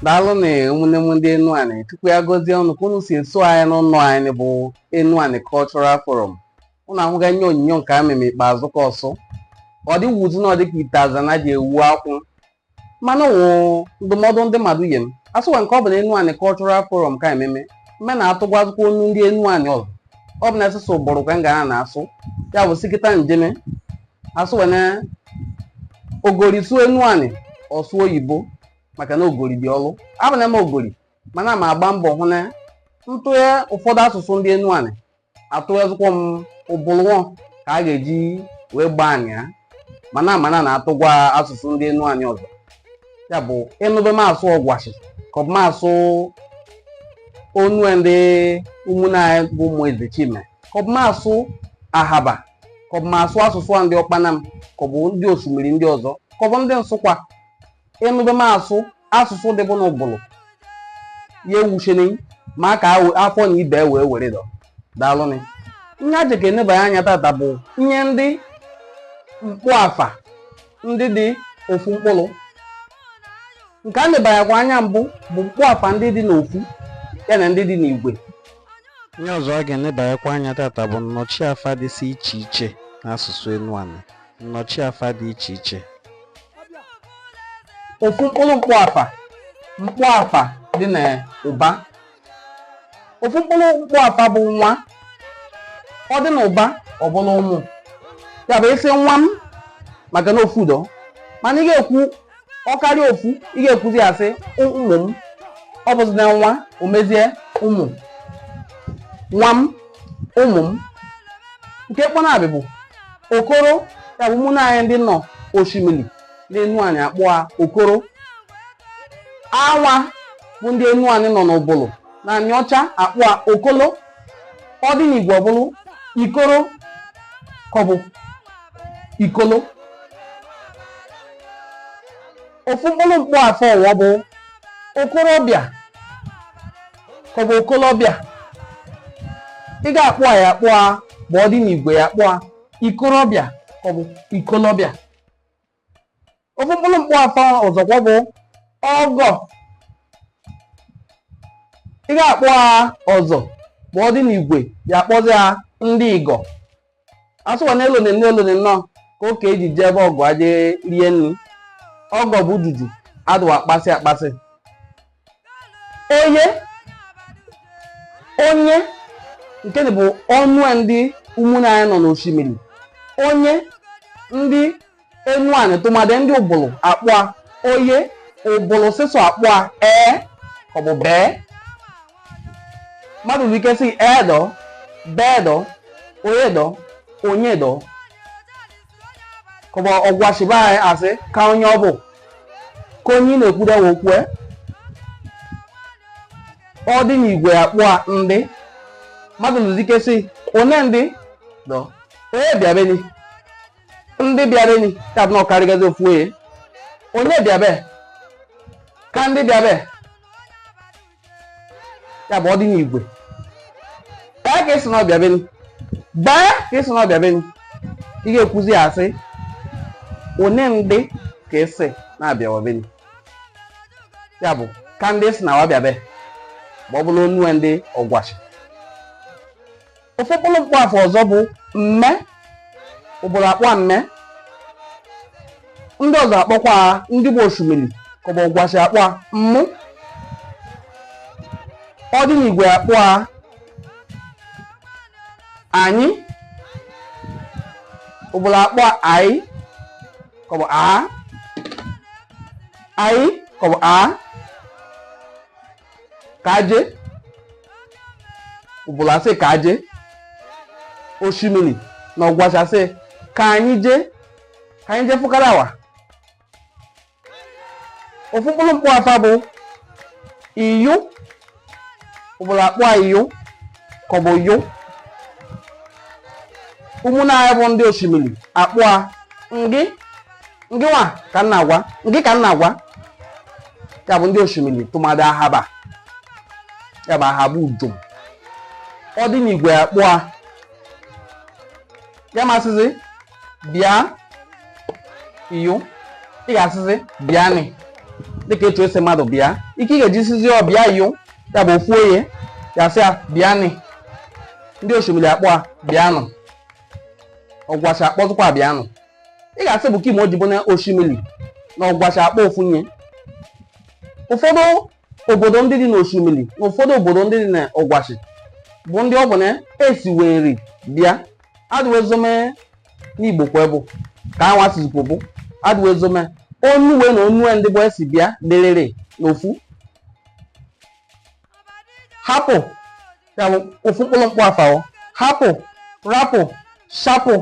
daalụ nụ ụmụnne m ndị Enuani Chukwu ya gọzie unu ka unu si eso anyị n'ụlọ anyị bụ Enuani Cultural Forum unu ahụga ihe onyinyo nke a meme ikpeazụ ka ọsụ ọ dịwuzi na ọ dịka ite aza na ji ewu akwụ mana wụ ndụmọdụ ndị mmadụ nye m asị wa nke ọ bụ na Enuani Cultural Forum ka ememe mme na-atụgwazikwa onu ndị Enuani ọzọ ọ bụ na asụsụ Ubulu ka m ga na-asụ ya bụ sikịta njeme asị wa na ogori sụ Enuani ọ sụ oyibo maka na ogori dị olu abụ na m ogori mana ma agba mbọ hụ na m tụye ụfọdụ asụsụ ndị Enuani atụyezikwa m Ubulu ka a ga-eji wee gbaa anị ya mana mana na-atụgwa asụsụ ndị Enuani ọzọ ya bụ ị nụbe m asụ Ogwashi ka ọ bụ m asụ onu ndị ụmụnne anyị bụ ụmụ Eze Chime ka ọ bụ m asụ Ahaba ka ọ bụ m asụ asụsụ a ndị Okpanam ka ọ bụ ndị osimiri ndị ọzọ ka ọ bụ ndị Nsukwa ị nụbe m asụ asụsụ dịbụ n'Ubulu ya ewuchene maka awe- afọ na ibe wee were dọ daalụnị ihe a jeka enebanye anya tata bụ ihe ndị mkpọafa ndị dị ofu mkpụrụ nke a nebanyekwa anya mbụ bụ mkpọafa ndị dị n'ofu ya na ndị dị n'igwe ihe ọzọ a ga-enebanyekwa anya tata bụ nnọchiafa dịsị iche iche n'asụsụ Enuani nnọchiafa dị iche iche ofu mkpụrụ mkpọafa mkpọafa dị n'ụba ofu mkpụrụ mkpọafa bụ nwa ọ dị n'ụba ọ bụrụ ụmụ ya bụ ị sị nwa m maka na ofu dọ mana ị ga-ekwu ọ karịa ofu ị ga-ekwuzi ya sị ụmụ m ọ bụzi na nwa o mezie ụmụ nwa m ụmụ m nke kpọnabị bụ okoro ya bụ ụmụnne anyị ndị nọ Oshimili n'Enuani akpọ a okoro anwa bụ ndị Enuani nọ n'Ubulu na Aniocha akpọ a okolo ọ dị n'igwe ọ bụrụ ikoro ka ọ bụ ikolo ofu mkpụrụ mkpọafa ọzọ bụ okorobịa ka ọ bụ okolobịa ị ga-akpọ a ya akpọ a ma ọ dị n'igwe ya akpọ a ikorobịa ka ọ bụ ikolobịa ofu mkpụrụ mkpọafa ọzọkwa bụ ọgọ ị ga-akpọ a ọzọ ma ọ dị n'igwe ya akpọzi a ndị igọ asị wa na elone nne elone nnọọ ka okei ji eje be ọgọ aje rie nri ọgọ bụ dudu adị wa akpasị akpasị onye onye nke bụ onue ndị ụmụnne anyị nọ n'osimiri onye ndị enuani tụmadị ndị ubulu akpọ a oye ubulu sịsọ akpọ a ee ka ọ bụ bee mmadụ nwere ike sị ee dọ bee dọ onye dọ onye dọ ka ọ bụ ogwashi be anyị asị ka onye ọ bụ ka anyị na-ekwudewe okwu ọ dị n'igwe akpọ a ndị mmadụ nwezi ike sị one ndị dọ onye bịabeni ndị bịabeni ya bụ na ọ karịgazi ofu onye onye bịabe ka ndị bịabe ya bụ ọ dị n'igwe bee ka ị sị na ọ bịabeni bee ka ị sị na ọ bịabeni ị ga-ekwuzi ya asị one ndị ka ị sị na-abịawa beni ya bụ ka ndị ị sị na wa bịabe ma ọ bụrụ onue ndị ogwashi ofu mkpụrụ mkpọ afa ọzọ bụ mme ubulu akpọ a mme ndị ọzọ akpọkwa a ndị bụ oshimili ka ọ bụ ogwashi akpọ a mmụ ọ dị n'igwe akpọ a anyị ubulu akpọ a ayị ka ọ bụ ayị ka ọ bụ a ka aje ubulu asị ka aje oshimili na ogwashi asị ka anyị jee ka anyị jee fụkara awa ofu mkpụrụ mkpọ afa bụ iyo ubulu akpọ a iyo ka ọ bụ yo ụmụnna anyị bụ ndị oshimili akpọ a ngị ngị wa ka m na-agwa ngị ka m na-agwa ya bụ ndị oshimili tụmadị ahaba ya bụ ahaba ujom ọ dị n'igwe akpọ a ị ma-asịzi bịa iyo ị ga-asịzi bịa nị dịka etu esi mmadụ bịa ike ị ga-eji sizi ọ bịa iyo ya bụ ofu onye ya sị ya bịa nị ndị oshimili akpọ a bịanụ ogwashi akpọzikwa a bịanụ ị ga-asị bụ kị me o ji bụ na oshimili na ogwashi akpọ ofu ihe ụfọdụ obodo ndị dị n'oshimili na ụfọdụ obodo ndị dị na ogwashi bụ ndị ọ bụ na esi wee nri bịa adịwezome n'igbo kwa bụ ka anwa sizikwo bụ adịwezome onuwe na onue ndị bụ esi bịa dịrịrị n'ofu hapụ ya bụ ofu mkpụrụ mkpụ afawo hapụ rapụ shapụ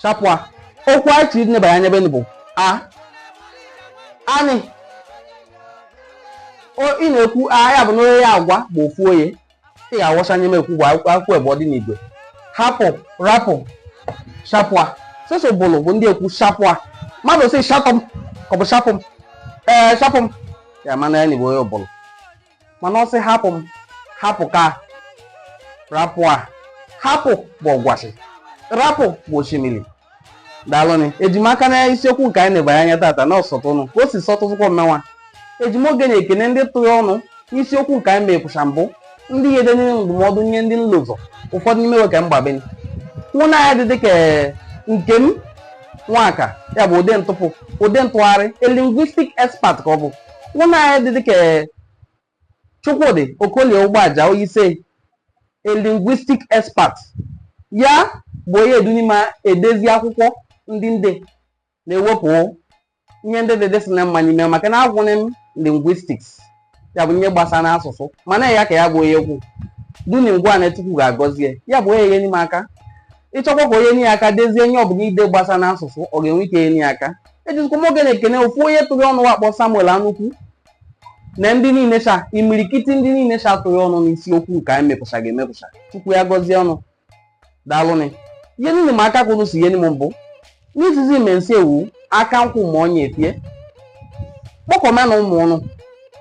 shapụa okwu anyị chiri neba ya nyebe bụ a anị ị na-ekwu a ya bụ na onye ya agwa bụ ofu onye ị ga-awọsa ihe m ekwu bụ akwụkwọ ebe ọ dị n'Igbo hapụ rapụ shapụa sọsọ Ubulu bụ ndị ekwu shapụa mmadụ sị shapụ m ka ọ bụ shapụ m ee shapụ m ya mana ya na Igbo onye Ubulu mana ọ sị hapụ m hapụ ka rapụ a hapụ bụ Ogwashi rapụ bụ Oshimili daalụnị eji m aka na isiokwu nke anyị na-ebanye anya tata na ọ sọtụ ụnụ ka o si sọtụzịkwa mmenwa eji m oge na-ekene ndị tụrụ ọnụ n'isiokwu nke anyị mepụsa mbụ ndị ihe denye ndụmọdụ nye ndị nlụ ụzọ ụfọdụ n'ime wa ka mgbabeni nwanne anyị dị dịka Nkem Nwaka ya bụ ụdị ntụpụ ụdị ntụgharị a linguistic expert ka ọ bụ nwanne anyị dị dịka Chukwudi Okolie Ugbaja who is a linguistic expert ya bụ onye eduni m edezi akwụkwọ ndị ndị na-ewepụ ihe ndị dị dịsị na mma n'ime maka na agwụnị m linguistics ya bụ ihe gbasa na asụsụ mana ya ka ya bụ onye kwu duni m gwa na Chukwu ga-agọzie ya bụ onye enye m aka ị chọkwa ka onye nye ya aka dezie ihe ọbụla i de gbasa na asụsụ ọ ga-enwe ike enye ya aka ejizikwa m oge na-ekene ofu onye tụrụ ọnụ wa kpọ Samuel Anukwu na ndị niile cha imirikiti ndị niile cha tụrụ ọnụ n'isiokwu nke anyị mepụcha ga-emepụcha Chukwu ya gọzie ụnụ daalụnị ihe niile m aka kwụrụ si ihe m mbụ n'izizi imensi ewu aka nkwụ ma ọnya efie kpọkọma na ụmụ ụnụ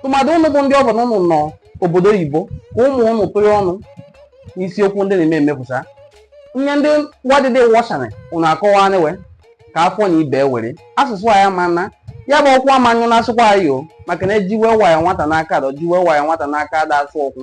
tụmadụ ụnụ bụ ndị ọ bụ na ụnụ nọ obodo oyibo ka ụmụ ụnụ tụrụ ọnụ n'isiokwu ndị na-eme emepụsa ihe ndị wa adịdị wọsanị ụnụ akọwanị we ka afọ na ibe were asụsụ anyị ama na ya bụ ọkwa manyụ na-asụkwa anyị ọ maka na ejiwe waya nwata n'aka adọ jiwe waya nwata n'aka ada asụ okwu